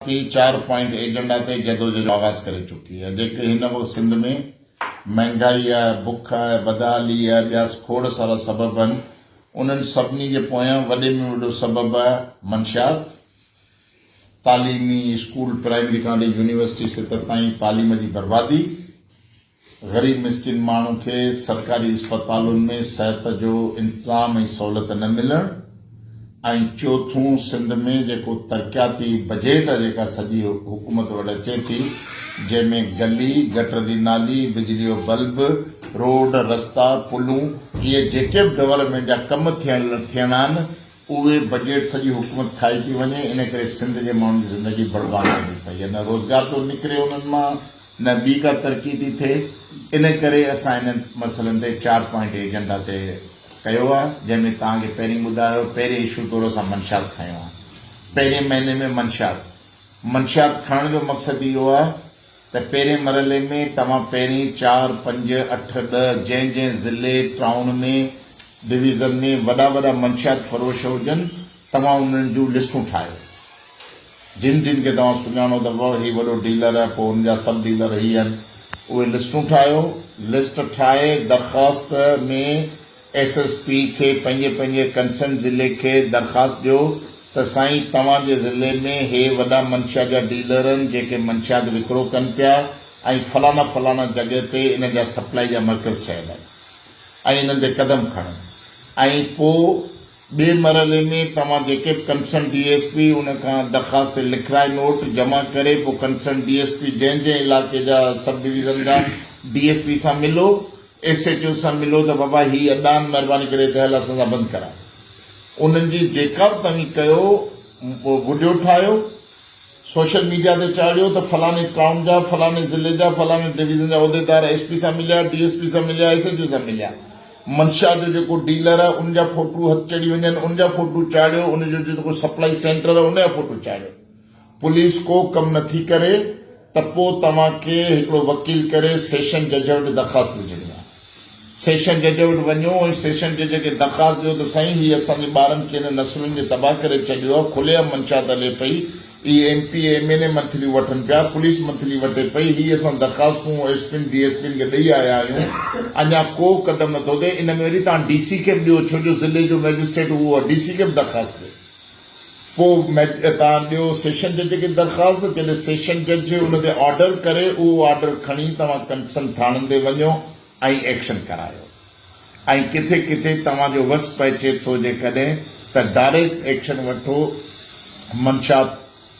تي چار point agenda تي جدوجھد جو آغاز ڪري چڪي آهي جيڪي هن وقت سنڌ ۾ مهنگائي، بک، بدحالي ۽ ٻيا کوڙ سارا سبب آهن انهن سڀني جي پويان وڏي ۾ وڏو سبب منشيات، تعليمي اسڪول پرائمري کان وٺي يونيورسٽي ستر تائين تعليم جي بربادي، غريب مسڪين ماڻهو کي سرڪاري اسپتالن ۾ صحت جو انتظام ۽ سهولت نه ملڻ ۽ چوٿون سنڌ ۾ جيڪو ترقياتي بجيٽ جيڪا سڄي حڪومت وٽ اچي ٿي جنهن ۾ گلي گٽر جي نالي بجلي جو بلب روڊ رستا پلون اهي جيڪي به ڊولپمينٽ جا ڪم ٿيڻا آهن اهي بجيٽ سڄي حڪومت کائي ٿي وڃي ان ڪري سنڌ جي ماڻهن جي زندگي برباد ٿيندي پئي آهي نه روزگار ٿو نڪري انهن مان نه ٻي ڪا ترقي ٿي ٿئي ان ڪري اسان انهن مسئلن تي چار پوائنٽ ايجنڊا طئي ڪيو آهي جنهن ۾ توهان کي پهرين ٻڌايو پهرين اشو طور اسان منشيات کنيو آهي پهرين مهيني ۾ منشيات منشيات کڻڻ جو مقصد اهو آهي ته پهرين مرحلي ۾ توهان پهرين چار، پنج، اٺ، ڏهه جنهن جنهن ضلعي، ٽائون ۾ ڊويزن ۾ وڏا وڏا منشيات فروش هجن توهان انهن جون لسٽون ٺاهيو جن جن کي توهان سڃاڻو ته وو هي وڏو ڊيلر پوء ان جا سب ڊيلر هي هن اهي لسٽون ٺاهيو لسٽ ٺاهي درخواست ۾ ايس ايس پي کي پنهنجي پنهنجي ڪنسرن ضلعي کي درخواست ڏيو ته سائين توهان جي ضلعي ۾ هي وڏا منشيات جا ڊيلر آهن جيڪي منشيات وڪرو ڪن پيا ۽ فلاڻا فلاڻا جڳهه تي انهن جا سپلائي جا مرڪز ٺهيل آهن ۽ انهن تي قدم کڻن ۽ پو ٻي مرحلي ۾ توهان جيڪي به ڪنسرن ڊي ايس پي ان کان درخواست تي لکرائي نوٽ جمع ڪري پو ڪنسرن ڊي ايس پي جنهن جنهن علائقي جا سب ڊويزن جا ڊي ايس پي سان ملو ايس ايڇ او سان ملو ته بابا هي اڏان مهرباني ڪري هتي هل اسان سان بند ڪراء انهن جي جيڪا به توهين ڪيو وڊيو ٺاهيو سوشل ميڊيا تي چاڙهيو ته فلاني ٽائون جا فلاني ضلعي جا فلاني ڊويزن جا عهديدار ايس پي سان مليا ڊي ايس پي سان مليا ايس ايڇ او سان مليا منشا جو جيڪو ڊيلر آهي ان جا فوٽو هٿ چڙهي وڃن ان جا فوٽو چاڙهيو ان جو جيڪو سپلائي سينٽر آهي ان جا فوٽو چاڙهيو. پوليس ڪو ڪم نه ٿي ڪري ته پو توهان کي هڪڙو وڪيل ڪري سيشن جج وٽ درخواست وجهڻي آهي. سيشن جج وٽ وڃو ۽ سيشن جج کي درخواست ڏيو ته سائين هي اسان جي ٻارن کي هن نسلن جي تباهه ڪري ڇڏيو آهي کلي عام منشيات هلي پئي هي M P M N A منٿليون وٺن پيا پوليس منٿلي وٺي پئي هي اسان درخواستون ايس پين ڊي ايس پين کي ڏئي آيا آهيون اڃا ڪو قدم نه ٿو ٿئي ان ۾ وري توهان ڊي سي کي به ڏيو ڇو جو ضلعي جو مئجسٽريٽ اهو آهي ڊي سي کي به درخواست ڏيو. ڪو ميچ تان ڏيو سيشن جج کي درخواست جڏهن سيشن جج ان تي آرڊر ڪري اهو آرڊر کڻي توهان ڪنسن ٿاڻن تي وڃو ۽ ايڪشن ڪرايو ۽ ڪٿي ڪٿي توهان جو وس پهچي ٿو جيڪڏهن ته ڊائريڪٽ ايڪشن وٺو منشات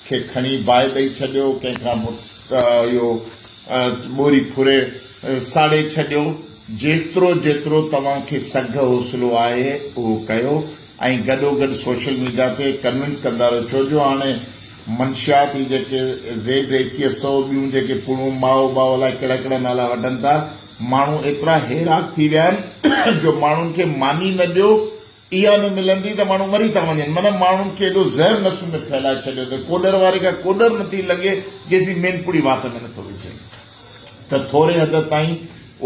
کي کڻي باهه ڏئي ڇڏيو ڪنهن کان اهو ٻوري ڦري ساڙي ڇڏيو جيترو جيترو توهان کي سگهه حوصلو آهي اهو ڪيو. ۽ گڏوگڏ سوشل ميڊيا تي ڪنوينس ڪندا رهيو ڇو جو هاڻي منشيات هي جيڪي زيڊ ايڪيهه سؤ ٻيون جيڪي پڙون مائو ٻائو الائي ڪهڙا ڪهڙا نالا وٺن ٿا ماڻهو ايترا هيراڪ ٿي ويا آهن جو ماڻهن کي ماني نه ڏيو اها نه ملندي ته ماڻهو مري ٿا وڃن معنيٰ ماڻهن کي ايڏو زهر نسون ۾ ڦهلائي ڇڏيو اٿن ڪوڏر واري کان ڪوڏر نٿي لنگهي جيسين مين پڙي وات ۾ نٿو وجهي. ته ٿوري حد تائين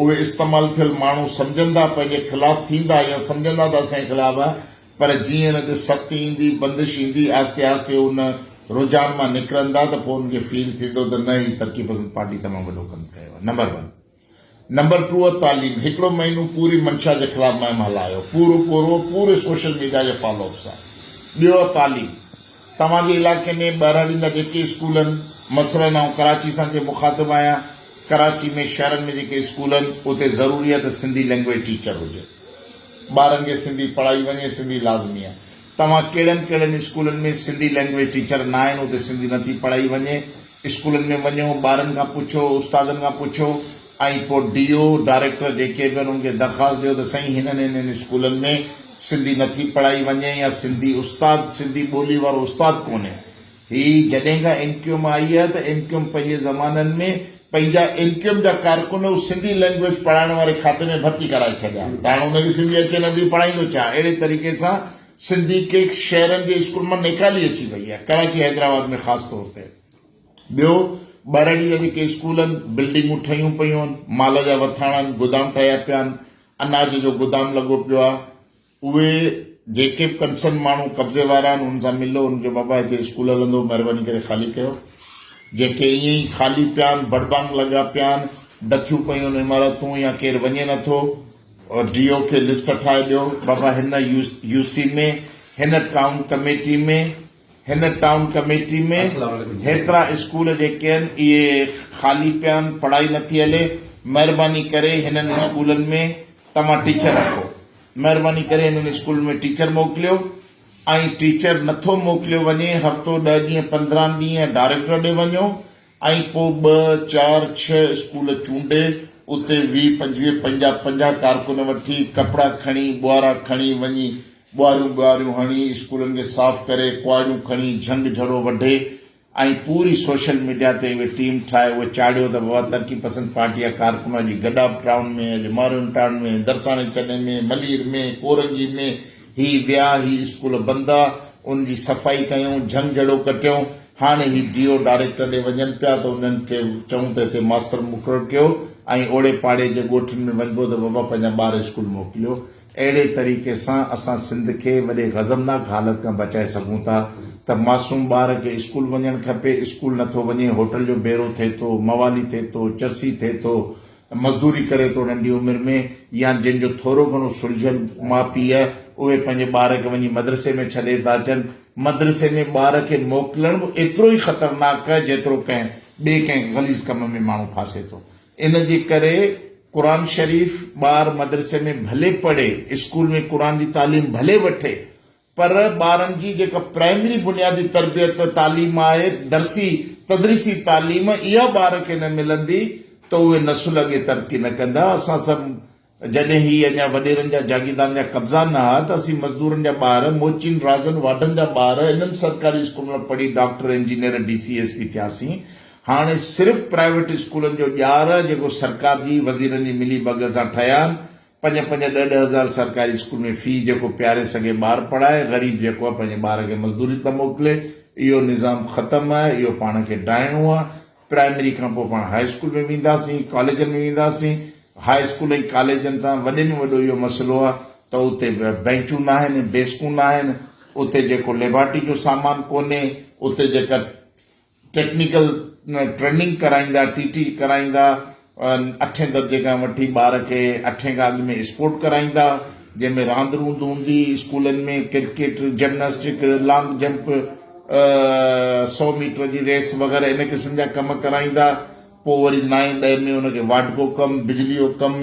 اهي استعمال ٿيل ماڻهو سمجهندا پنهنجي خلاف ٿيندا يا سمجهندا ته اسان جي خلاف آهي پر جيئن ان تي سختي ايندي بندش ايندي آهستي آهستي ان رجحان مان نڪرندا ته پوء انهن کي فيل ٿيندو ته نه هي ترقي پسند پارٽي تمام وڏو ڪم ڪيو آهي نمبر ون نمبر ٽوء تعليم هڪڙو مهينو پوري منشا جي خلاف مهم هلايو پورو پورو پوري سوشل ميڊيا جي فالو اپ سان ٻيو تعليم توهان جي علائقي ۾ ٻهراڙين جا جيڪي اسڪول آهن، مثلاً آئون ڪراچي سان جي مخاطب آهيان، ڪراچي ۾ شهرن ۾ جيڪي اسڪول آهن اتي ضروري آهي ته سنڌي لينگويج ٽيچر هجي. ٻارن کي سنڌي پڙهائي وڃي، سنڌي لازمي آهي. توهان ڪهڙن ڪهڙن اسڪولن ۾ سنڌي لينگويج ٽيچر نه آهن، اتي سنڌي نٿي پڙهائي وڃي. اسڪولن ۾ وڃو، ٻارن کان پڇو، استادن کان پڇو. ۽ پوء ڊي او، ڊائريڪٽر جيڪي به آهن ان کي درخواست ڏيو ته سائين هنن هنن اسڪولن ۾ سنڌي نٿي پڙهائي وڃي يا سنڌي استاد سنڌي ٻولي وارو استاد ڪونهي. هي جڏهن کان ايم ڪيو ايم آئي آهي ته ايم ڪيو ايم پنهنجي زمانن ۾ پنهنجا ايم ڪيو ايم جا ڪارڪن هو سنڌي لينگويج پڙهائڻ واري کاتي ۾ ڀرتي ڪرائي ڇڏيا ته هاڻ ان کي سنڌي اچي نٿي پڙهائيندو ڇا اهڙي طريقي سان سنڌي ڪي شهرن جي اسڪولن مان نيڪالي اچي وئي آهي ڪراچي حيدرآباد ۾ خاص طور تي ٻيو، ٻهراڙي جا جيڪي اسڪول آهن، بلڊنگون ٺهيون پيون آهن، مال جا وٿاڻا آهن، گودام ٺهيا پيا آهن، اناج جو گودام لڳو پيو آهي، اهي جيڪي به ڪنسرن ماڻهو قبضي وارا آهن انهن سان ملو، انهن کي بابا هتي اسڪول هلندو مهرباني ڪري خالي ڪيو، جيڪي ائين ئي خالي پيا آهن، بڙبانگ لڳا پيا آهن، ڊٿيون پيون آهن عمارتون يا ڪير وڃي نٿو، ڊي او کي لسٽ ٺاهي ڏيو، بابا هن يو سي ۾ هن ٽائون ڪميٽي ۾. هن ٽائون ڪميٽي ۾ هيترا اسڪول جيڪي آهن اهي خالي پيا آهن پڙهائي نٿي هلي مهرباني ڪري هنن اسڪولن ۾ توهان ٽيچر رکو مهرباني ڪري هنن اسڪولن ۾ ٽيچر موڪليو ۽ ٽيچر نٿو موڪليو وڃي هفتو ڏهه ڏينهن پندرهن ڏينهن ڊائريڪٽر ڏي وڃو ائين پوء ٻه، چار، ڇهه اسڪول چونڊي اتي ويهه، پنجويهه پنجاهه، پنجاهه ڪارڪن وٺي، ڪپڙا کڻي، ٻوهارا کڻي وڃي، ٻوهاريون ٻوهاريون هڻي، اسڪولن کي صاف ڪري، ڪهاڙيون کڻي، جهنگ جهڙو وڍي ۽ پوري سوشل ميڊيا تي اهي ٽيم ٺاهي اهي چاڙهيو ته واهه ترقي پسند پارٽي جا ڪارڪن اڄ گڏاپ ٽائون ۾ اڄ مارون ٽائون ۾ درساڻي چني ۾ ملير ۾ ڪورنگي ۾ هي ويا هي اسڪول بند آ ان جي صفائي ڪيون جهنگ جهڙو ڪٽيون هاڻي هي ڊي او ڊائريڪٽر ڏي وڃن پيا ته انهن کي چئون ته هتي ماستر مقرر ڪيو ۽ اوڙي پاڙي جي ڳوٺن ۾ وڃبو ته بابا پنهنجا ٻار اسڪول موڪليو اهڙي طريقي سان اسان سنڌ کي وڏي غضبناڪ حالت کان بچائي سگهون ٿا ته معصوم ٻار کي اسڪول وڃڻ کپي اسڪول نٿو وڃي هوٽل جو بيرو ٿي ٿو موالي ٿي ٿو چرسي ٿي ٿو مزدوري ڪري ٿو ننڍي عمر ۾ يا جن جو ٿورو گهڻو سلجهيل ماء پيء اهي پنهنجي ٻار کي وڃي مدرسي ۾ ڇڏي ٿا اچن مدرسي ۾ ٻار کي موڪلڻ به ايترو ئي خطرناڪ جيترو ڪنهن ٻئي ڪنهن غليظ ڪم ۾ ماڻهو ڦاسي ٿو ان جي ڪري قرآن شريف ٻار مدرسي ۾ ڀلي پڙهي اسڪول ۾ قرآن جي تعليم ڀلي وٺي پر ٻارن جي جيڪا پرائمري بنيادي تربيت تعليم آهي، درسي تدريسي تعليم، اها ٻار کي نه ملندي ته اهي نسل اڳي ترقي نه ڪندا. اسان سڀ جڏهن هي اڃا وڏيرن جا جاگيردارن جا قبضا نه ها ته اسين مزدورن جا ٻار، موچين رازن واڍن جا ٻار انهن سرڪاري اسڪولن ۾ پڙهي doctor, engineer, D C, S P ٿياسين. هاڻي صرف پرائيويٽ اسڪولن جو ڄار جيڪو سرڪار جي وزيرن جي ملي ڀڳ سان ٺهيا آهن پنج پنج ڏھ ڏھ ھزار سرڪاري اسڪول ۾ في جيڪو پياري سگھي ٻار پڙھائي غريب جيڪو آھي پنھنجي ٻار کي مزدوري تان موڪلي اھو نظام ختم آھي اھو پاڻ کي ڊاھڻو آھي پرائمري کان پوء پاڻ ھاء اسڪول ۾ وينداسين ڪاليجن ۾ وينداسين ھاء اسڪول ۽ ڪاليجن سان وڏي ۾ وڏو اھو مسئلو آھي ته اتي بينچون ناھن ڊيسڪون ناھن اتي جيڪو ليبارٽري جو سامان ڪونھي اتي جيڪا ٽيڪنيڪل ٽريننگ ڪرائيندا ٽي ٽي ڪرائيندا اٺين درجي کان وٺي ٻار کي اٺين کان اڳ ۾ اسپورٽ ڪرائيندا جنهن ۾ راند روند هوندي اسڪولن ۾ ڪرڪيٽ جمناسٽڪ لانگ جمپ سو ميٽر جي ريس وغيره ان قسم جا ڪم ڪرائيندا پوء وري نائين ڏهين ۾ ان کي وارڊ جو ڪم، بجلي جو ڪم،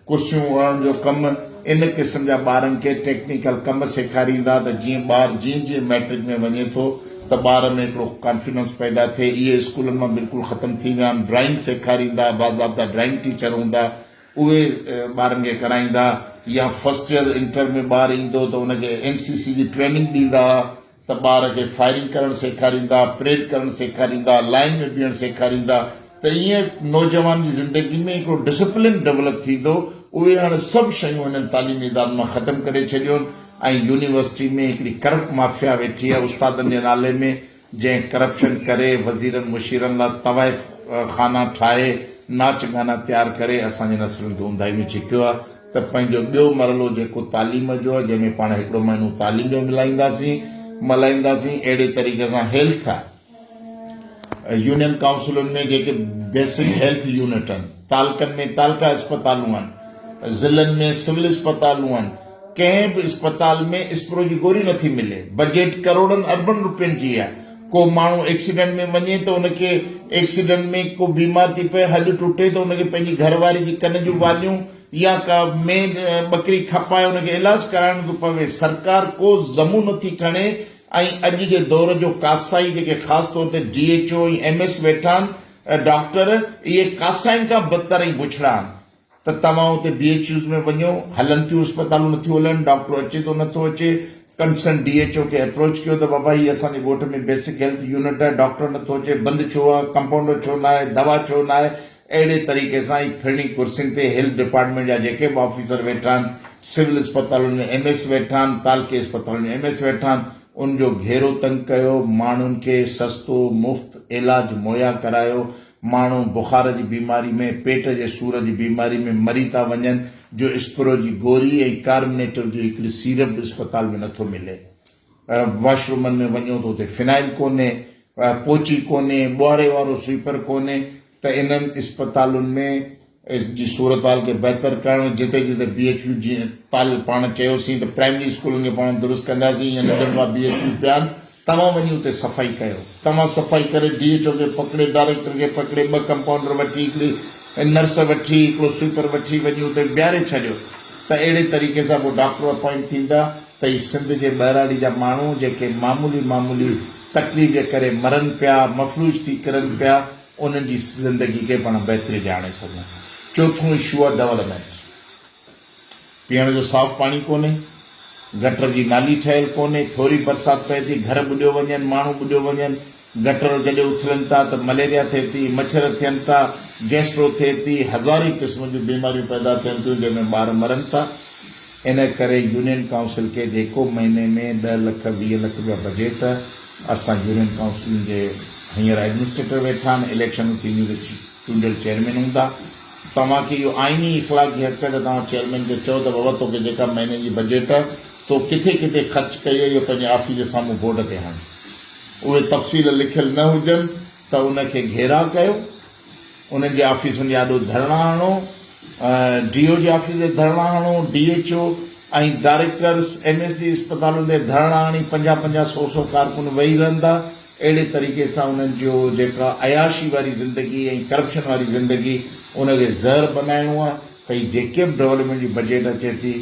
ڪرسيون اڻڻ جو ڪم ان قسم جا ٻارن کي ٽيڪنيڪل ڪم سيکاريندا ته جيئن ٻار جيئن جيئن مئٽرڪ ۾ وڃي ٿو ته ٻار ۾ هڪڙو ڪانفيڊنس پيدا ٿئي اهي اسڪولن مان بلڪل ختم ٿي ويا آهن ڊرائنگ سيکاريندا باضابطا ڊرائنگ ٽيچر هوندا اهي ٻارن کي ڪرائيندا يا فرسٽ يئر انٽر ۾ ٻار ايندو ته ان کي اين سي سي جي ٽريننگ ڏيندا ته ٻار کي فائرنگ ڪرڻ سيکاريندا، پريڊ ڪرڻ سيکاريندا، لائين ۾ بيهڻ سيکاريندا ته ائين نوجوان جي زندگي ۾ هڪڙو ڊسپلن ڊولپ ٿيندو، اهي هاڻي سڀ شيون هنن تعليمي ادارن مان ختم ڪري ڇڏيون ۽ يونيورسٽي ۾ هڪڙي ڪرپٽ مافيا ويٺي آهي استادن جي نالي ۾ جنهن ڪرپشن ڪري وزيرن مشيرن لا طوائف خانا ٺاهي ناچ گانا تيار ڪري اسان جي نسلن کي اونداهي ۾ ڇڪيو آهي. ته پنهنجو ٻيو مرحلو جيڪو تعليم جو آهي جنهن ۾ پاڻ هڪڙو مهينو تعليم جو ملائينداسين ملهائينداسين اهڙي طريقي سان هيلٿ يونين ڪائونسلن ۾ جيڪي بيسڪ هيلٿ يونٽ آهن تعلقن ۾ تعلقه اسپتالون آهن ضلعن ۾ سول اسپتالون آهن ڪنهن به اسپتال ۾ اسپرو جي گوري نٿي ملي بجيٽ ڪروڙن اربن روپين جي آهي ڪو ماڻهو ايڪسيڊنٽ ۾ وڃي ته ان کي ايڪسيڊنٽ ۾ ڪو بيمار ٿي پئي هڏ ٽٽي ته ان کي پنهنجي گهر واري جي ڪن جون واليون يا ڪا مينهن ٻڪري کپائي ان کي علاج ڪرائڻو ٿو پوي سرڪار ڪو ذمو نٿي کڻي ۽ اڄ جي دور جو ڪاسائي جيڪي خاص طور تي D H O ۽ M S ويٺا آهن ڊاڪٽر اهي ڪاسائين کان بدتر ۽ بڇڙا آهن. ته توهان اتي بي ايڇ يوز ۾ وڃو، هلن ٿيون اسپتالون نٿيون هلن، ڊاڪٽر اچي ٿو نٿو اچي، ڪنسرن ڊي ايڇ او کي ايپروچ ڪيو ته بابا هي اسان جي ڳوٺ ۾ بيسڪ هيلٿ يونٽ آهي ڊاڪٽر نٿو اچي، بند ڇو آهي، ڪمپائونڊر ڇو نه آهي، دوا ڇو نه آهي، اهڙي طريقي سان هي ڦرڻي ڪرسين تي هيلٿ ڊپارٽمينٽ جا جيڪي به آفيسر ويٺا آهن، سول اسپتالن ۾ ايم ايس ويٺا آهن، تعلقي اسپتالن ۾ ايم ايس ويٺا آهن، ان جو گهيرو تنگ ڪيو، ماڻهن کي سستو مفت عيلاج مهيا ڪرايو، ماڻهو بخار جي بيماري ۾ پيٽ جي سور جي بيماري ۾ مري ٿا وڃن جو اسپرو جي گوري ۽ ڪارمنيٽر جي هڪڙي سيرپ به اسپتال ۾ نٿو ملي واش رومن ۾ وڃو ته اتي فنائل ڪونهي پوچي ڪونهي ٻوهاري وارو سوئپر ڪونهي ته انهن اسپتالن ۾ ايس جي صورتحال کي بهتر ڪرڻ جتي جتي بي ايڇ يو جي پال پاڻ چيوسين ته پرائمري اسڪولن کي پاڻ درست ڪنداسين ايئن ننڍڙ ڀا بي ايڇ يو پيا آهن توهان وڃي اتي صفائي ڪيو توهان صفائي ڪري ڊي ايڇ او کي پڪڙي ڊائريڪٽر کي پڪڙي ٻه ڪمپائونڊر وٺي هڪڙي نرس وٺي هڪڙو سوئپر وٺي وڃي اتي بيهاري ڇڏيو ته اهڙي طريقي سان پوء ڊاڪٽر اپائنٽ ٿيندا ته هي سنڌ جي ٻهراڙي جا ماڻهو جيڪي معمولي معمولي تڪليف جي ڪري مرن پيا مفلوج ٿي ڪرن پيا انهن جي زندگي کي پڻ بهتري ڏي آڻي سگهون. چوٿون اشو آهي ڊولپمينٽ. پيئڻ جو صاف پاڻي ڪونهي، گٽر جي نالي ٺهيل ڪونهي، ٿوري برسات پئي ٿي گهر ٻڏيو وڃن، ماڻهو ٻڏيو وڃن، گٽر جڏهن اٿلن ٿا ته مليريا ٿئي ٿي، مڇر ٿين ٿا، گيسٽرو ٿئي ٿي، هزارين قسم جون بيماريون پيدا ٿين ٿيون جنهن ۾ ٻار مرن ٿا. ان ڪري يونين ڪائونسل کي جيڪو مهيني ۾ ڏهه لک ويهه لک رپيا بجيٽ اسان يونين ڪائونسلن جي هينئر ايڊمنسٽريٽر ويٺا آهن اليڪشنون ٿينديون ته چونڊيل چيئرمين هوندا توهان کي اهو آئيني اخلاقي حق ته توهان چيئرمين کي چئو ته بابا توکي جيڪا مهيني جي بجيٽ تو ڪٿي ڪٿي خرچ ڪئي اهو پنهنجي آفيس جي سامهون بورڊ تي هڻ اهي تفصيل لکيل نه هجن ته ان کي گهيراء ڪيو انهن جي آفيسن جي آڏو ڌرڻا هڻو، ڊي او جي آفيس تي ڌرڻا هڻو، D H O ۽ directors M S C اسپتالن تي ڌرڻا هڻي پنجاهه پنجاهه سؤ سؤ ڪارڪن ويهي رهندا، اهڙي طريقي سان انهن جو جيڪا عياشي واري زندگي ۽ ڪرپشن واري زندگي ان کي زهر بنائڻو آهي. پئي جيڪي به ڊولپمينٽ جي بجيٽ اچي ٿي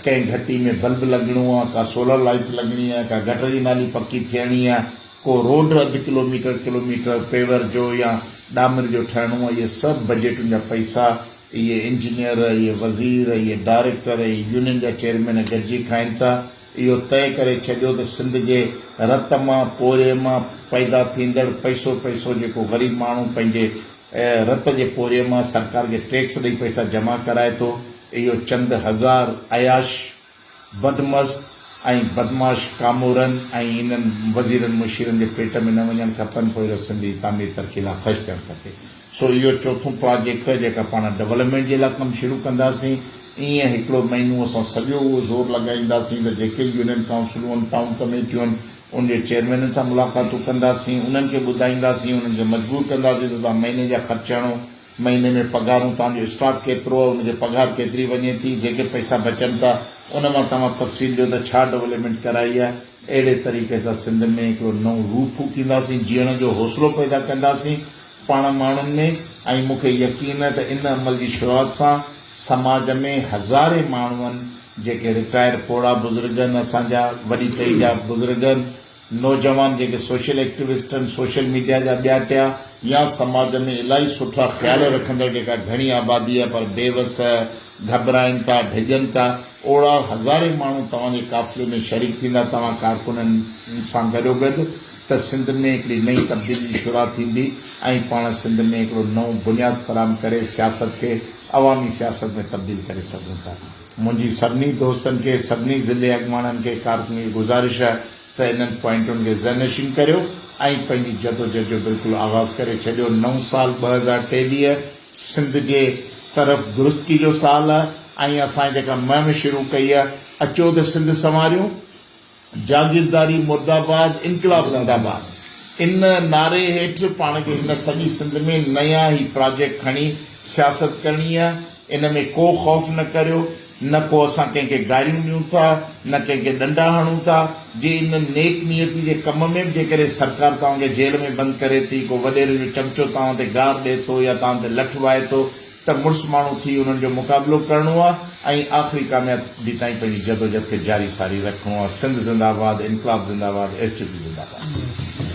ڪنهن گهٽي ۾ بلب لڳڻو آهي ڪا سولر لائيٽ لڳڻي آهي ڪا گٽر جي نالي پڪي ٿيڻي آهي ڪو روڊ اڌ kilometre kilometre paver جو يا ڏامر جو ٺهڻو آهي اهي سڀ بجيٽن جا پئسا اهي انجنيئر اهي وزير اهي ڊائريڪٽر اهي يونين جا چيئرمين گڏجي کائين ٿا اهو طئي ڪري ڇڏيو ته سنڌ جي رت مان پورهيي مان پيدا ٿيندڙ پئسو پئسو جيڪو غريب ماڻهو پنهنجي ۽ رت جي پورهيي مان سرڪار کي ٽيڪس ڏئي پئسا جمع ڪرائي ٿو، اهو چند هزار عياش، بدمست ۽ بدمعاش ڪامورن ۽ انهن وزيرن مشيرن جي پيٽ ۾ نه وڃڻ کپن، پوء اهڙو سنڌ جي تعمير ترقي لاء خرچ ٿيڻ کپي. سو اهو چوٿون پراجيڪٽ جيڪا پاڻ ڊولپمينٽ جي لاء ڪم شروع ڪنداسين، ايئن هڪڙو مهينو اسان سڄو اهو زور لڳائينداسين ته جيڪي يونين ڪائونسلون، ٽائون ڪميٽيون، ان جي چيئرمينن سان ملاقاتون ڪنداسين، انهن کي ٻڌائينداسين، انهن کي مجبور ڪنداسين ته توهان مهيني جا خرچ هڻو، مهيني ۾ پگهارون، توهان جو اسٽاف ڪيترو آهي، ان جي پگهار ڪيتري وڃي ٿي، جيڪي پئسا بچن ٿا، ان مان توهان تفصيل ڏيو ته ڇا ڊولپمينٽ ڪرائي آهي، اهڙي طريقي سان سنڌ ۾ هڪڙو نئون روح ڦوڪينداسين، جيئڻ جو حوصلو پيدا ڪنداسين، پاڻ ماڻهن ۾ ۽ مون کي يقين آهي ته ان عمل جي شروعات سان سماج ۾ هزارين ماڻهن جيڪي رٽائرڊ پوڙها بزرگ آهن اسان جا وڏي ٽهي جا بزرگ آهن نوجوان جيڪي سوشل ايڪٽيوسٽ آهن سوشل ميڊيا جا ٻيا ٽيا يا سماج ۾ الاهي سٺا خيال رکندڙ جيڪا گهڻي آبادي آهي پر بي وس گهٻرائين ٿا ڊڄن ٿا. اوڙاهه هزارين ماڻهو توهان جي قافلي ۾ شريڪ ٿيندا، توهان ڪارڪنن سان گڏوگڏ ته سنڌ ۾ هڪڙي نئين تبديلي جي شرح ٿيندي ۽ پاڻ سنڌ ۾ هڪڙو نئون بنياد فراهم ڪري سياست کي عوامي سياست ۾ تبديل ڪري سگهون ٿا. منهنجي سڀني دوستن کي، سڀني ضلعي اڳواڻن کي، ڪارڪنن کي گذارش آهي ته انهن پوائنٽن کي ذهن نشين ڪريو ۽ پنهنجي جدوجھد جو بلڪل آغاز ڪري ڇڏيو، نئون سال ٻه هزار ٽيويهه. سنڌ جي طرف درستي جو سال ۽ اسان جيڪا مهم شروع ڪئي هئي اچو ته سنڌ سنواريون، جاگيرداري مرداباد، انقلاب زنداباد ان نعري هيٺ پاڻ کي هن سڄي سنڌ ۾ نيا هي پراجيڪٽ کڻي سياست ڪرڻي هي ان ۾ ڪو خوف نه ڪريو. نه ڪو اسان ڪنهن کي گاريون ڏيون ٿا نه ڪنهن کي ڏنڊا هڻون ٿا، جي ان نيڪ نيتي جي ڪم ۾ به جيڪڏهن سرڪار توهان کي جيل ۾ بند ڪري ٿي، ڪو وڏيري جو چمچو توهان تي گار ڏئي ٿو يا توهان تي لٺ وائي ٿو ته مڙس ماڻهو ٿي انهن جو مقابلو ڪرڻو آ ۽ آخري ڪاميابي تائين پنهنجي جدوجهد کي جاري ساري رکڻو آ سنڌ زنده آباد انقلاب زنده آباد ايس ٽي پي زنده آباد.